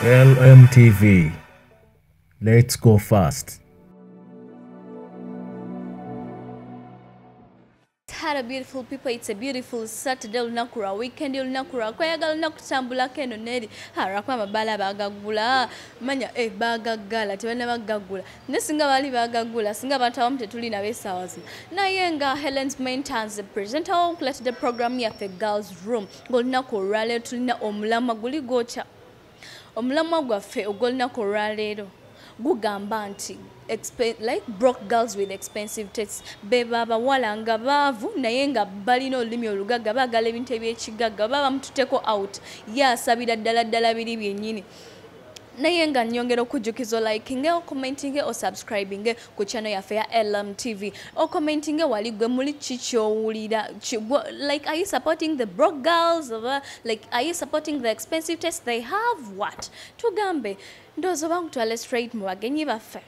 LMTV. Let's go fast. Hello beautiful people, it's a beautiful Saturday olunaku lwa weekend olunaku lwa kweyagala olunaku tambulako eno neri harako amabala bagagula manya eh bagagala tebana bagagula ne singa baali bagagula singa abantu abamu tetuli nabo esaawa zino naye nga helens maintains presenta wo nkuletedde programu yaffe girls room ngaolunaku olwaleero tulina omulamwa guli gwokya omulamwa gwaffe ogwolunaku olwaleero gugamba nti like broke girls with expensive tastes beba abawala nga baavu naye nga balina olulimi olugagga baagala ebintu ebyekigagga baba bamututeko out ye asabira ddala ddala biri byennyini naye nga nyongera okujjukiza olikinge okomentinge osubscribinge ku channel yaffe ya lm tv okomentinge wali gwe muli kikyowulira like are you supporting the broke girls oba like are you supporting the expensive test they have what tugambe ndoozi oba nkutwale straight mu bagenyi baffe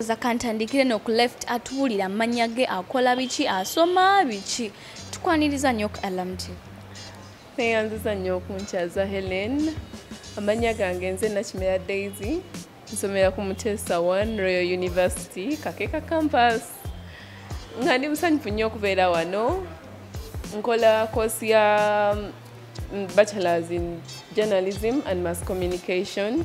Oza kantandikire no ku left atubulira manya ge akola biki asoma biki tukwaniriza nyo ku LMT. Neyanziza nyo okunchaza Helen. Amanya gange nze Nakimera Daisy. Nsomera ku Mutesa One Royal University Kakeka Campus. Nga ndi musanyufu nyo okubeera wano. Nkola course ya mm, bachelors in journalism and mass communication.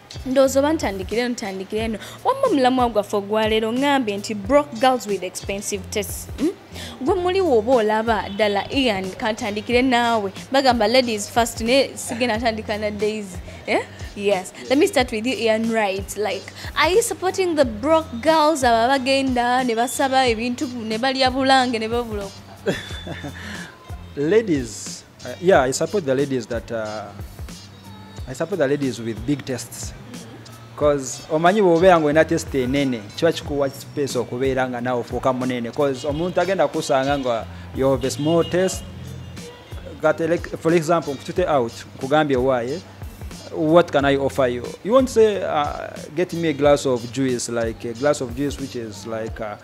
ndowooza oba ntandikire eno ntandikire eno wamma omulamwa gwaffe ogwaleero ngambye nti brock girls with expensive test hmm? gwe muli woba olaba ddala ian kantandikire naawe bagamba ladies first naye sigenda ntandika na daisy eh? yes let me start with you ian right like are you supporting the brock girls abo abagenda ne basaba ebintu ne balya bulange ne babula ladies Uh, yeah, I support the ladies that uh, I support the ladies with big tests. Cause omanyi bwobeera nga olina test enene kiba kikuwa space okubeera nga nawe ofuuka munene cause omuntu agenda kusanga nga you have a small test that like, for example nkutute out nkugambye owaaye what can I offer you? You won't say, uh, get me a glass of juice, like a glass of juice, which is like uh,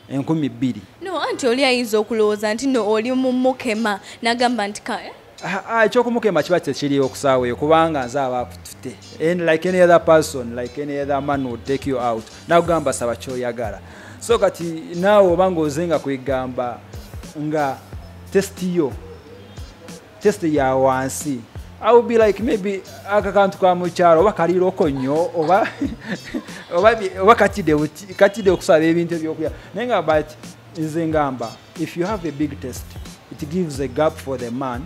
enkumi bbiri no anti oli ayinza okulowooza nti no oli mumukema nagamba nti eh? ah, ah, ekyokumukema kiba tekiriwo kusaaweyo kubanga nze aba akutute like any other person like any other man would take you out nakugamba saba kyoyagala so kati naawe obanga ozenga kwegamba nga testi yo just ya wansi I will be like maybe aka kantu ka mukyalo oba kaliroko nnyo oba oba oba katide katide okusaba ebintu ebyokulya naye nga but nze ngamba if you have a big test it gives a gap for the man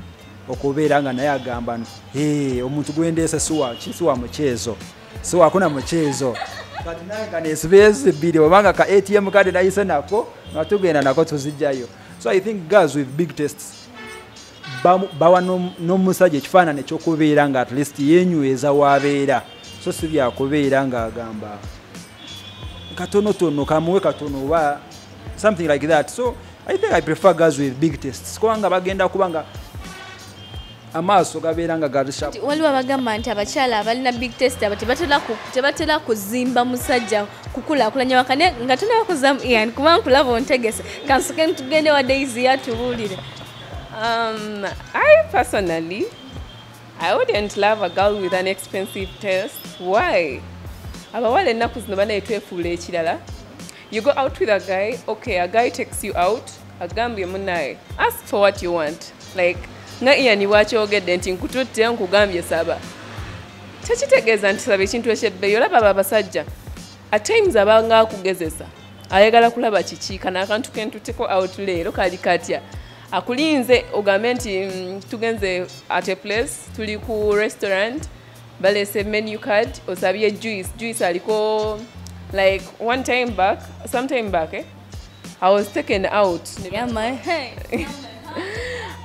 okubeera nga naye agamba no hey, omuntu gwendeese siwa siwa mukyezo siwakuna mukyezo kati naye nga nesibeezi bbiri obanga ka atm kade nayise nako nga tugenda nako tuzijjayo so i think girls with big tests bawa n'omusajja ekifaanana ekyokubeera nga at least yenyweza wabeera so si byakubeera ngaagamba katonotono kamuwe katono oba something like that so i think i prefer girls with big tests kubanga bagenda kubanga amaaso gabeera nga gabisawaliwo abagamba nti abakyala abalina big test abo tebatera kuzimba musajja kukulakulanya wakane nga tunaba kuzamu ian kuba nkulaba ontegese kansoke ntugende wa daisy yatubuulire um, i personally i wouldn't love a girl with an expensive test why abawala ennaku zino banaye twefuula ekirala you go out with a guy okay a guy takes you out agambye munaye ask for what you want like nga ian bwakyogedde nti nkututte nkugambye saba tekitegeeza nti saba ekintu ekyebbeeyi olaba abo abasajja at times abanga akugezesa ayagala kulaba kiki kana akantu kentuteko out leero kali katya akulinze ogambe nti mm, tugenze at a place tuli ku restaurant balese menu card osabye juice juice aliko like one time back sometime back eh? I was taken out. Yeah, my hey.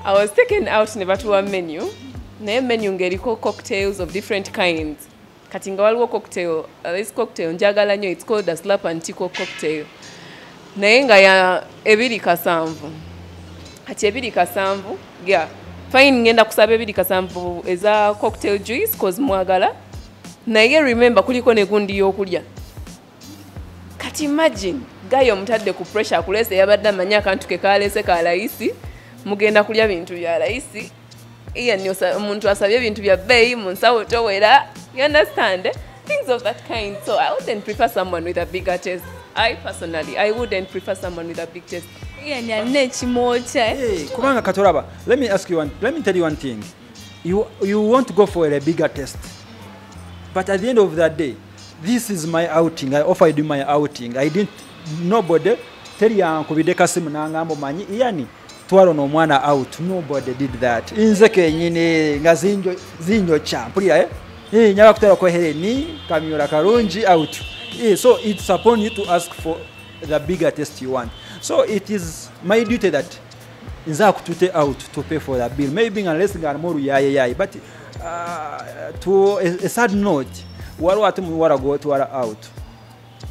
I was taken out ne batuwa menu. Naye menu ngeriko cocktails of different kinds. Kati nga waliwo cocktail, uh, this cocktail njagala nyo, it's called a slap and tickle cocktail. Naye nga ya ebiri kasanvu. Kati ebiri kasanvu, yeah. Fine ngenda kusaba ebiri kasanvu eza cocktail juice cause mwagala. Naye remember kuliko ne gundi yokulya. kati imagine gayo omutadde ku pressure akulese yabadde amanyi akantu ke kalese ka layisi mugenda kulya bintu bya layisi ian omuntu asabye ebintu bya bbeeyi mu nsawo towera you understand eh? things of that kind so i wouldn't prefer someone with a bigger test i personally i wouldn't prefer someone with a big test ian alina ekimwokya eh? kubanga katolaba let me ask you one, let me tell you one thing you, you want to go for a bigger test but at the end of the day this is my outing i offered you my outing i didn't nobody teri yankubidde kasimu nangamba omanyi yani twalo nomwana out nobody did that nze kenyini nga zinjokya mpulira eh? eh, nyaba kutwala kohereni kamyola kalungi out eh, so it's upon you to ask for the bigger test you want so it is my duty that nze akutute out to pay for the bill maybe nga less nga more yaye yaye but uh, to a, a sad note waliwo ate muwala gwotwala out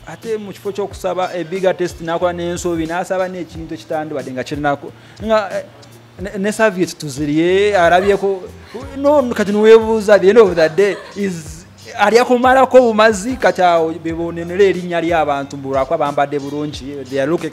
ate mu kifo ky'okusaba ebiga test nakola n'ensobi n'asaba n'ekintu ekitandibadde nga kirinako nga eh, ne saviet tuzirye arabyeko no kati niwebuuza the end of the day is alyakumalako bumazi kati awo bebonenera erinnya ly'abantu mbulwako abambadde bulungi they are looking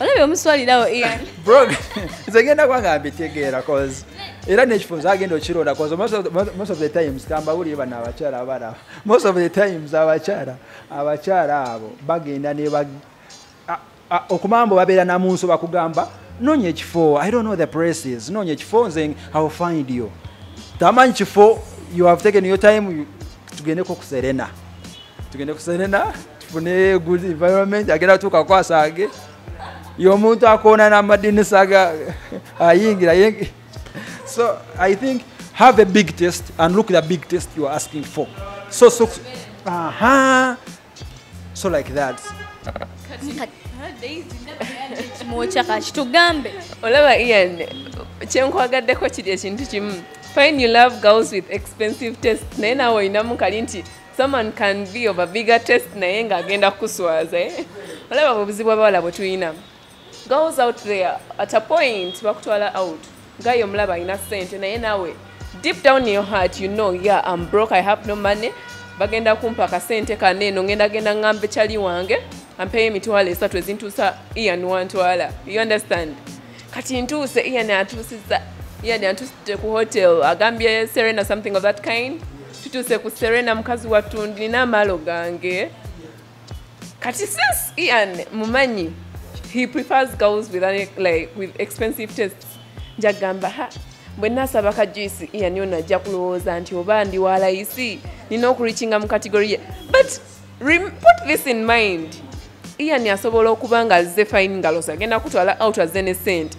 olabye omuswalirawo ian bro nze ngenda kuba nga mbitegeera cause era nekifunzo agenda okironda cause most of the times tambawulire bano abakyala abalaba most of the times abakyala abakyala abo bagenda neba okumambo babeera namunso bakugamba nonya ekifo i don't know the places nonya ekifo nze how find you tamanyi kifo you have taken your time tugendeko kuserena tugende kusenena tufune good environment agenda tuuka kwasaage yomuntu akoona namadinisa ga ayingira yenge so i think have a big test and look the big test you are asking for so so aha so like that kitugambe olaba ian kyenkwagadeko kiri ekintu kimu fine you love girls with expensive test naye nawe olinamu kali nti someone can be of a bigger test naye nga agenda kuswaza eh? olaba obuzibu abawala bwe tulina goes out there at a point bakutwala out gayo omulaba alina sente naye nawe deep down in your heart you know yeah I'm broke I have no money bagenda kumpa akasente kano eno ngenda genda ngamba ekyali wange ampeyo emitwalo esatu ezintuusa ian wantwala you understand kati ntuuse ian atuusiza ian antuusite ku hotel agambye serena something of that kind tutuuse ku serena mukazi wattu ndina amaalo gange kati since ian mumanyi he prefers girls with, an, like, with expensive tests njagamba ha bwe nasaba ka juice ian ono ajja kulowooza nti oba ndi wa layisi nina okurikinga mu kategori ye but put this in mind ian asobola okuba nga azze fine ngalosi agenda kutwala out azze ne sente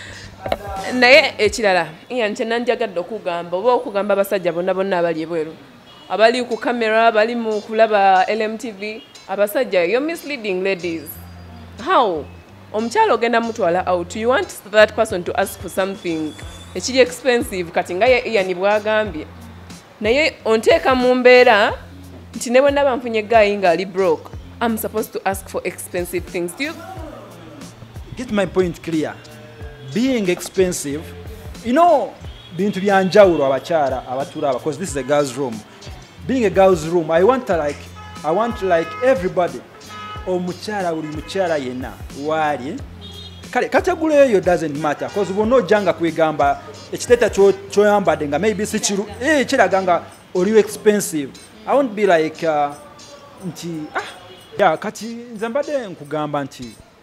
naye ekirala ian kyenanjagadde okugamba oba okugamba abasajja bonna bonna abali ebweru abali ku camera abali mu kulaba lmtv abasajja yo misleading ladies how omukyalo ogenda mutwala out you want that person to ask for something ekiri expensive kati nga ye ian bwagambye naye onteeka mu mbeera nti ne bwe naba nfunye gaayi ng'ali broke am supposed to ask for expensive things Do you... get my point clear being expensive you know bintu bya njawulo abakyala abatulaba because this is a girls room being a girls room i want like i want like everybody omukyala buli mukyala yenna waali kale kategula eyo doesn't matter bcause bwonna ojjanga kwegamba ekiteeta kyoyambadde nga maybe sikiru eh, kiraga nga oliwo expensive i won't be like uh, nti ah. ya kati nze mbadde nkugamba nti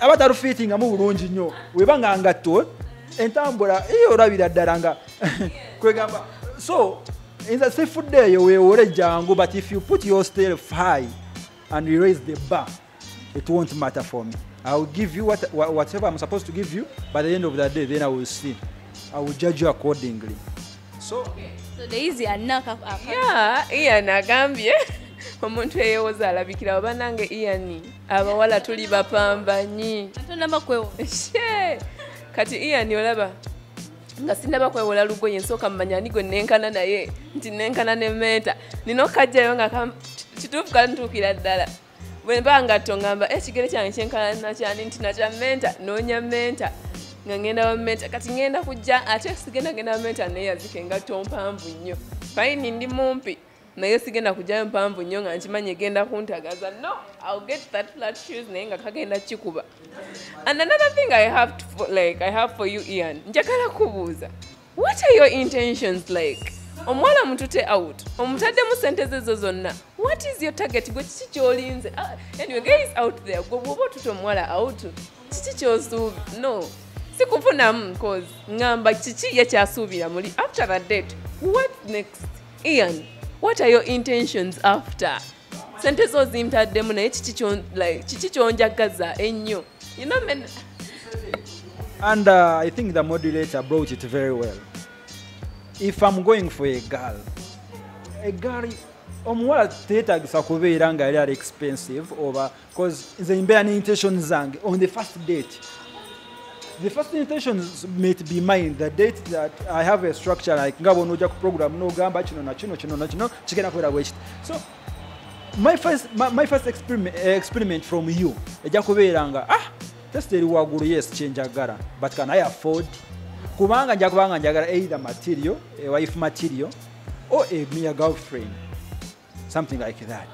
aba talufiitingamu bulungi nnyo weba nga ngatto entambula iyo olabira ddala nga kwegamba so nze sifudde eyo weewole jangu but if you put your stelf high and you raise the bar it won't matter for me i will give you what, whatever i'm supposed to give you by the end of the day then i will see i will judge you accordingly so ian agambye omuntu eyewoza alabikirawo banange ian abawala tuli bapambanyi kati ian olaba nga sinaba kwewola lugoye nsooka mumanya ani gwe nenkana naye nti nenkana nementa nina okukajjayo nga kituufu kantuukira ddala bwemba ngatto ngamba ekigere eh, kyange kyenkalana kyani nti nakya menta noonya menta nga ngenda bamenta kati ngenda kujja ate sigenda genda bamenta naye yazika engatto mpanvu nnyo fayini ndi mumpi naye sigenda kujjayo mpanvu nnyo nga nkimanyi egenda kuntagaza no ill get that flat shoes naye nga kagenda kikuba and another thing i have, to, like, I have for you ian njagala kubuuza what are your intentions like omuwala mutute out omutaddemu sente zezo zonna what is your target gwe kiki kyolinze ah, anyway guys out there gwe bwoba otute omuwala out kiki kyosuubi no sikufunamu cause ngamba kiki ye kyasuubira muli after the date what next ian what are your intentions after sente zo zintaddemu naye kiki kyonjagaza ennyo and uh, i think the modulator brought it very well if i'm going for a girl a girl omuwala teetagisa kubeera nga yali ali expensive oba cause nze mbeera ne intention zange on the first date the first intention might be mine the date that i have a structure like nga bona ojja ku program nogamba kino nakino kino nakino kigenda kubeera bwekiti so my first, my, my first experiment, eh, experiment from you ejja kubeera nga ah test eri waggulu yes kyenjagala but can i afford kubanga nja kubanga njagala either material a eh, wife material or a mere girlfriend something like that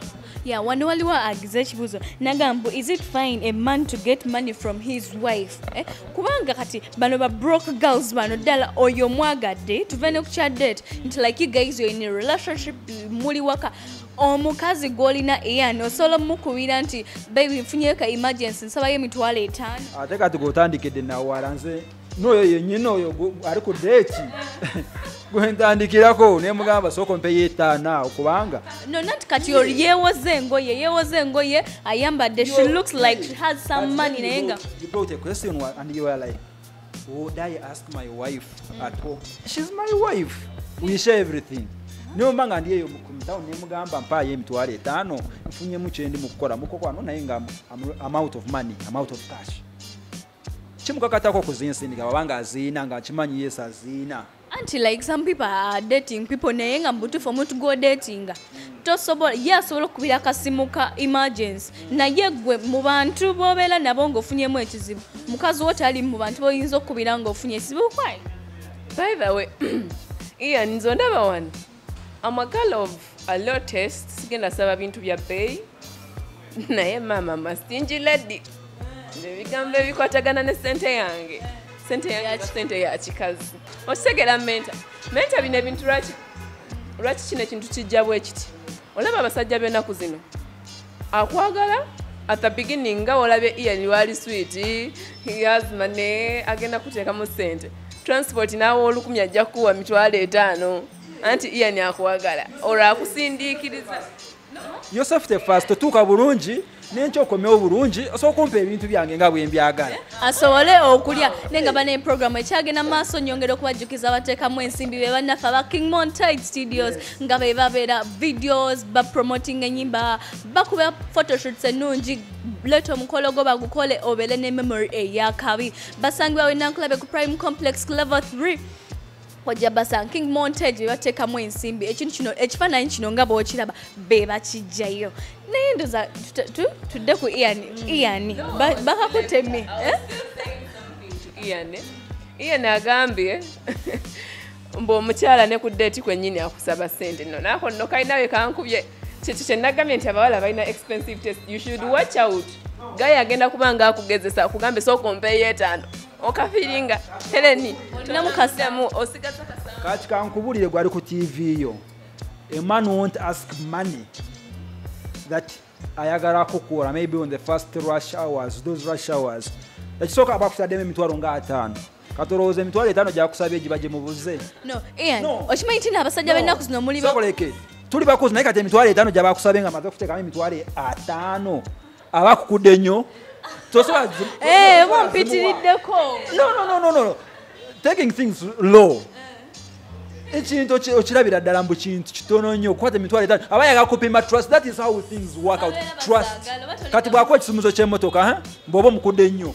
yeah wano waliwo agize ekibuzo nagambu is it fine a man to get money from his wife eh? kubanga kati bano ba broke girls bano ddala oyo mwagadde tuve ne kukya date nti like you guys you're in a relationship muli waka omukazi gwolina eyan osobola omukubira nti baby nfunyeyo ka emergency nsabayo emitwalo etaano ate kati gotandikidde nawala nze noyo yenyini oyo ari ku deki gwentandikirako nemugamba soko mpe yetana okubanga no not kati or yewoze engoye yewoze engoye ayambadde she looks like she has some money naye nga you brought a question and you are like would i ask my wife mm. at home she's my wife we share everything nyomba nga ndi eyo kumtown nemugamba mpayo emitwalo etaano nfunyemu kyendi mukukola mukokwano naye nga am out of money am out of cash kimukakatako okuzinsindika baba nga aziina nga akimanyi yesu aziina anti like some people are dating people naye nga mubutuufu omuntu gwodatinga tosobola ye asobola okukubira akasimu ka emergency naye gwe mu bantu bobeera nabo ngaofunyemu ekizibu mukazi wo tali mu bantu boyinza okukubira ngaofunye ekizibu kwaye by the way ian nze ondaba wano I'm a girl of a low taste. Sigenda saba bintu bya bay. Naye mama mastingy lady. Nebigambo ebikwatagana ne sente yange. Sente yange ya sente ya kikazi. Osegera menta. Menta bine bintu lwaki lwaki kino ekintu kijja bwe kiti. Olaba abasajja b'enaku zino. akwagala at the beginning nga olabye ian wali sweet yazima ne agenda kuteekamu sente transport naawe olukumi ajja kukuwa mitwalo etaano anti ian akwagala olwo akusindiikiriza yosefu tefasi totuuka bulungi nenkyokomewo bulungi osobola okumpa ebintu byange nga bwembyagala asobole okulya naye nga bana eprogramu ekyagenda maaso nyongera okubajjukiza abateekamu ensimbi be bannaffe aba king montide studios nga be babeera videos bapromoting enyimba bakuba photoshoots ennungi leeta omukolo gwo bagukole obeere ne memory eyakabi basangibwa wenankulabe ku prime complex level 3 ojja basanga king montage bebateekamu ensimbi ekintu kino ekifaananyi kino nga bwokiraba be bakijjayo naye ndoza tudde ku iani iani bakakuteme eh? iani agambye mbu omukyala ne ku deeti kwennyini akusaba ssente no naako nno kalinawe kankubye kyekyo kyenagambye nti abawala balina expensive test you should watch out gaye agenda kuba nga akugezesa akugambe sooka ompeeyo etaano okafiringa heleni namukasemu osigaza kati kankubulire gwali ku tv yo a man won't ask money that ayagala kukuwola maybe on the first rush hours those rush hours ekisooka abakusademu emitwalo nga ataano katolowooza emitwalo etaano gyakusabye giba gyemubuze okimanyi ti naabasajja bennaku zino mulioleke tuli bakozi naye kati emitwalo etaano gyabakusabye nga maze kuteekamu emitwalo ataano abakukudde nnyo tosoboampitiriddeko eh, taking things low ekintu okirabira ddala mbu kintu kitono nnyo okukwata emitwalo etaano aba yagakupima trust that is how things work out trust kati bwakuwa ekisumuzo ky'emotoka bw'oba omukudde nnyo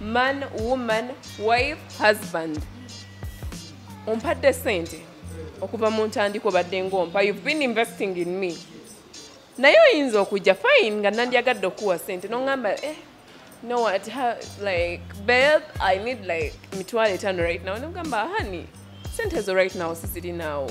man woman wife husband ompadde sente okuva mu ntandika obadde ngompa you've been investing in me naye oyinza okujja fine nga nandyagadde okuwa sente noŋamba eh, no what ha, like beb i need like mitwalo etano right now nogamba hani sente ezo right now sizirinaawo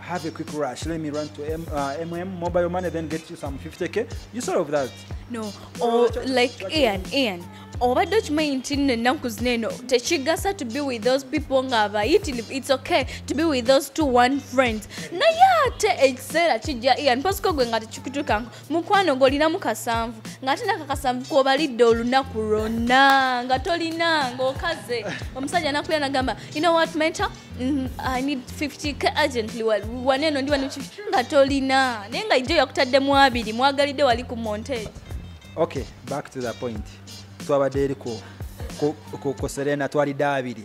have a quick rush. Let me run to M, uh, MM mobile money, then get you some 50k. You sort of that. No, or oh, like Ian, Ian. obadde okimanyi nti nno ennaku zino eno tekigasa to be with those people nga abayitirivu its okay to be with those two one friends naye ate ekiseera kijja ian pasiko gwe nga tekikutukanko mukwano ng'olinamu kasanvu ng'ate naka kasanvu kobalidde olunaku lwonna nga tolina ng'okaze omusajja nakuya nagamba you know what menta mm, i need 50 k urgently waneeno ndi wani nga tolina naye nga ijjo yakutadde mu abiri mwagalidde wali ku montage okay back to the point twabadde eri ku serena twalidde abiri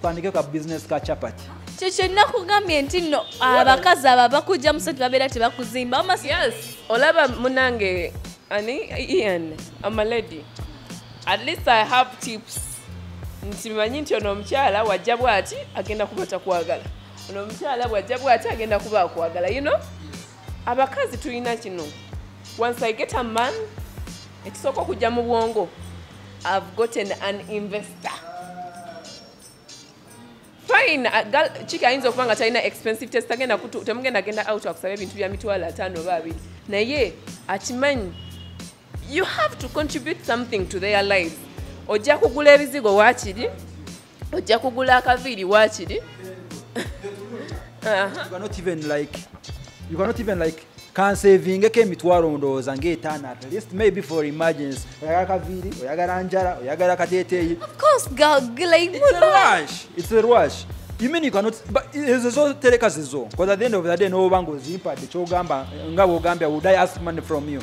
twandike ka business ka chapati kyekyo nakugambye nti no abakazi aba bakujja musatu babeera tebakuzimba yes olaba munange ani ian amalady at least i have tips nti manyi nti ono omukyala wajja bwati agenda kuba takwagala ono omukyala bwajja bwati agenda kuba akwagala you know abakazi tulina kino once i get a man ekisooka okujja mu bwongo i've gotten an investor fine kiki uh, ayinza okuba nga talina expensive test agenda temugenda genda out akusaba ebintu bya mitwalo ataano oba abiri naye akimanyi you have to contribute something to their lives ojja kugula ebizigo wakiri ojja kugula akaviiri wakiri kansevingeko emitwalo ndowooza ngaetaano at least maybe for emergency oyagala kaviiri oyagala njala oyagala kateteeyi ezo zotereka zizo bcause at the end of the day nobanga ozimpadde kyogamba nga bwogambya would i ask money from you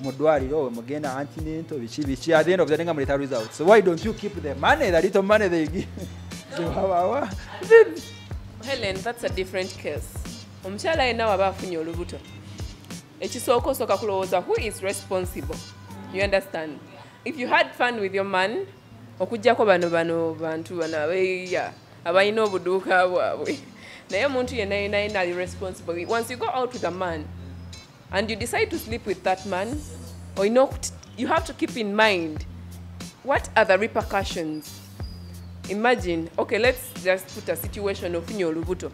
mu ddwaliro we mugenda antinento biki biki at the end of the day nga muleta results so why don't you keep the money the little money they give zewabawa helen that's a different case omukyala yenna waba afunye olubuto ekisooka osooka kulowooza who is responsible you understand if you had fun with your man okujjako bano bano bantu bano abeya abalina obuduuka bwabwe naye omuntu yenna yenna yenna ali responsible once you go out with a man and you decide to sleep with that man or you know you have to keep in mind what are the repercussions imagine okay let's just put a situation of ofunye olubuto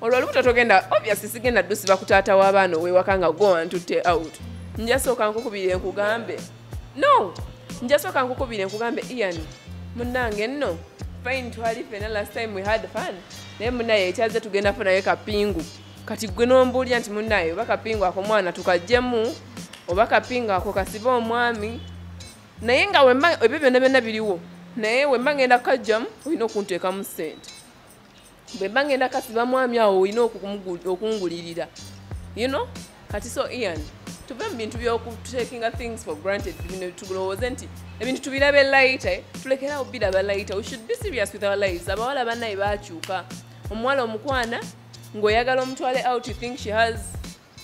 olwo olubuto togenda obviously sigenda dusiba ku taata w'abaana owewaka nga go antutte out njasooka nkukubire nkugambe no njasooka nkukubire nkugambe ian munnange nno fine twali fena last time we had fun naye munaye ekyaze tugenda funayo kapingu kati gwe nombuulira nti munaye oba kapingo ako mwana tukajjemu oba kapingo ako kasibe omwami naye nga wemba ebyo byonna byonna biriwo naye wemba ngenda kukajjamu olina okunteekamu sente bwemba ngenda kasiba mwami awo olina okungulirira you know kati so ian tuve mu bintu byokutakinga things for granted bino tulowooze nti ebintu tubirabe layita eh? tulekerawo biraba layita we should be serious with our lives abawala banaye bakyuka omuwala omukwana ng'oyagala omutwale out you think she has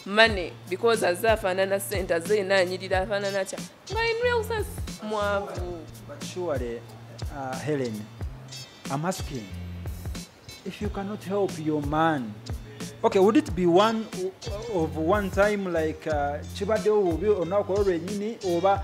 money because aze afaanana sente aze yena anyirira afaanana kya nga in real sense mwavu but surely uh, helen i'm asking if you cannot help your man okay would it be one of one time like uh, kibaddewo bubi olunaku olwo lwenyini oba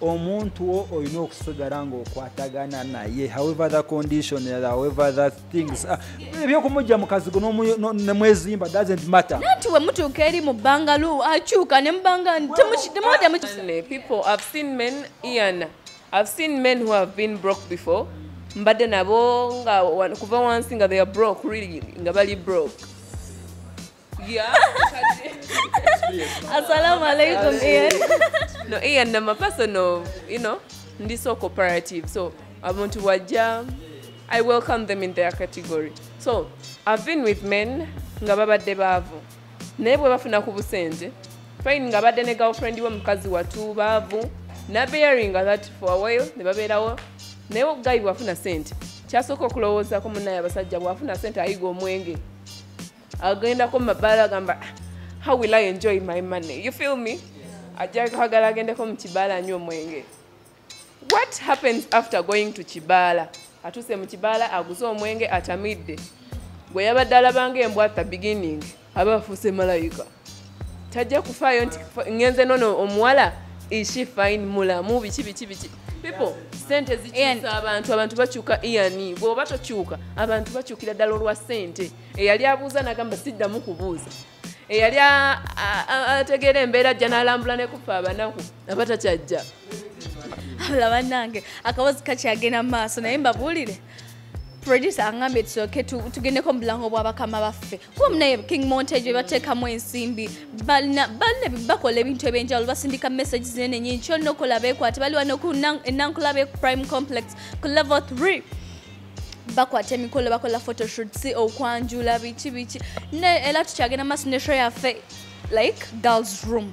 omuntu wo olina okusigala ngaokwatagana naye however the condition however the things ah, ebyokumujja mukazigo nemwezimba doesn't matter nanti wemutuuka eri mu bbanga lu akyuka ne mubanga people i've seen men ian i've seen men who have been broke before mbadde nabo nga kuva wansi nga they are broke really nga bali broke Yeah. Assalamu alaikum, Ian. no, Ian, I'm a person of, you know, ndi so cooperative. So, abantu wajja, I welcome them in their category. So, I've been with men nga babadde baavu. Naye bwe bafuna ku busente, fine nga badde ne girlfriend we mukazi watu baavu, na bearing that for a while, ne babeerawo. Naye guy bwafuna sente, kyasooka okulowooza ku munnaye abasajja bwafuna sente ayiga omwenge. agendako mu mabaala agamba how will i enjoy my money you feel me ajja kwagala agendeko mu kibaala anywa omwenge what happens after going to kibaala atuuse mu kibaala aguze omwenge atamidde gwe yabadde alabanga embwa at the beginning aba afuuse malayika tajja kufaayo nti ngenze nono omuwala ishi fine mulamu biki biki biki people sente zikyusa abantu abantu bakyuka iani bwoba tokyuka abantu bakyukira ddala olwa sente eyali abuuza nagamba siddamu kubuuza eyali ategeera embeera ajja nalambula nekuffa abanaku aba takyajja abula banange akabozi kakyagenda mu maaso naye mbabuulire producer angambye tusoke tugendeko mubulango bwabakama baffe kuba munaye king montage bebatekamu ensimbi balina bakola ebintu ebyenjawulo basindika message zinene nyingi kyona okola bekwate baliwa noku enankulabe prime complex ku level 3 bakwata emikolo bakola photoshoot si okwanjula biki biki era tukyagenda maaso ne show yaffe like girls room